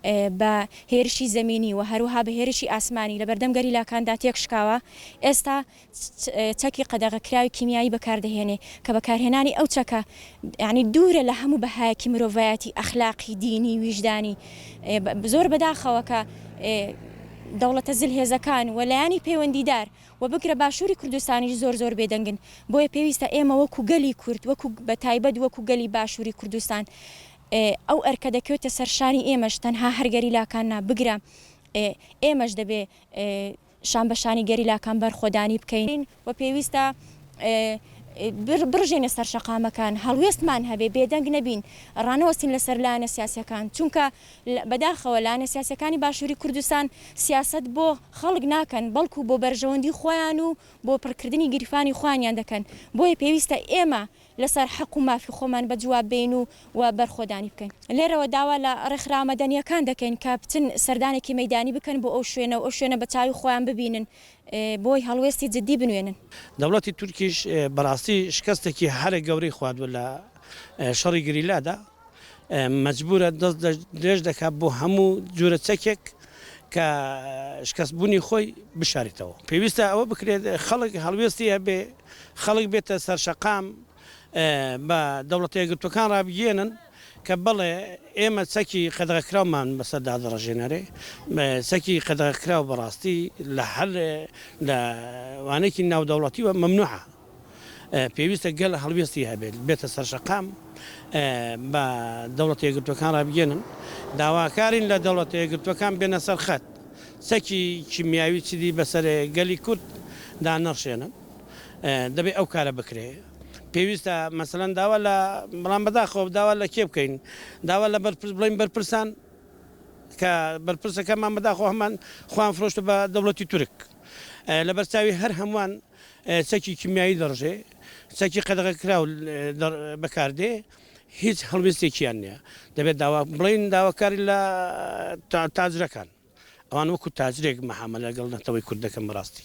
بە هێرشی زەمینی و هەروەها بە هێرشی ئاسمانی لە بەردەم گەریلاکاندا تێکشکاوە، ئێستا چەکی قەدەغەکراوی کیمیایی بەکاردەهێنێ کە بەکارهێنانی ئەو چەکە یەعنی دوورە لە هەموو بەهایەکی مرۆڤایەتی، ئەخلاقی، دینی، ویژدانی. زۆر بەداخەوە کە دەوڵەتە زلهێزەکان و لایەنی پەیوەندیدار و بگرە باشووری کوردستانیش زۆر زۆر بێدەنگن، بۆیە پێویستە ئێمە وەکوو گەلی کورد، وەکوو بەتایبەت وەکوو گەلی باشووری کوردستان ئێ ئەو ئەرکە دەکەوێتە سەر شانی ئێمەش، تەنها هەر گەریلاکان نا، بگرە ئێ ئێمەش دەبێ شان بە شانی گەریلاکان بەرخۆدانی بکەین. و پێویستە ئێ بڕژێنە سەر شەقامەکان، هەڵوێستمان هەبێ، بێدەنگ نەبین، ڕانەوەستین لە سەر لایەنە سیاسییەکان، چونکە بە داخەوە لایەنە سیاسییەکانی باشووری کوردستان سیاسەت بۆ خەڵک ناکەن، بەڵکوو بۆ بەرژەوەندی خۆیان و بۆ پڕکردنی گیرفانی خۆیانیان دەکەن، بۆیە پێویستە ئێمە لەسەر حەق و مافی خۆمان بەجواب بێین و و بەرخۆدانی بکەین. لێرەوە داوا لە ڕێکخراوە مەدەنییەکان دەکەین کە بچن سەردانێکی مەیدانی بکەن بۆ ئەو شوێنە و ئەو شوێنە بە چاوی خۆیان ببینن بۆی هەڵوێستی جددی بنوێنن. دەوڵەتی تورکیش بەڕاستی شکستێکی هەرە گەورەی خواردووە لە شەڕی گریلادا. مەجبوورە دەست درێژ دەکات بۆ هەموو جورە چەکێک کە شکەست بوونی خۆی بشاریتەوە پێویستە ئەوە بکرێت خەڵک هەڵوێستی هەبێ خەڵک بێتە سەرشەقام بە دەوڵەتە یەکگرتوەکان ڕابگەێنن کە بڵێ ئێمە چەکی قەدەغەکراومان بەسەر دادڕژێنەرێ چەکی قەدەغەکراو بەڕاستی لە هەر لە وانێکی ناودەوڵەتی و ممنوعە پێویستە گەل هەڵوێستی هەبێت بێتە سەرشەقام بە دەوڵەتە یەکگرتووەکان ڕابگەێنن داواکارین لە دەوڵەتە یەکگرتووەکان بێنە سەر خەت سەکی کیمیاوی چیدی بەسەر گەلی کورد دا نەڕشێنن دەبێ ئەو کارە بکرێ پێویستە مەسەن داوا لە بەڵام بەداخۆ داوا لە کێ بکەین داوا لە بەرپرس بڵین بەرپرسان کە بەرپرسەکەمان بەداخۆ هەمان خوان فرۆشت بە دەوڵەتی تورک لە بەرچاوی هەر هەمووان چەکی کیمیایی دەڕژێ، چەکی قەدەغەکراو بەکاردێ، هیچ هەڵوێستێکیان نییە. دەبێت داوا بڵێین داواکاری لە تاجرەکان، ئەوان وەکو تاجرێک مەحامەلە لەگەڵ نەتەوەی کورد دەکەن بەڕاستی.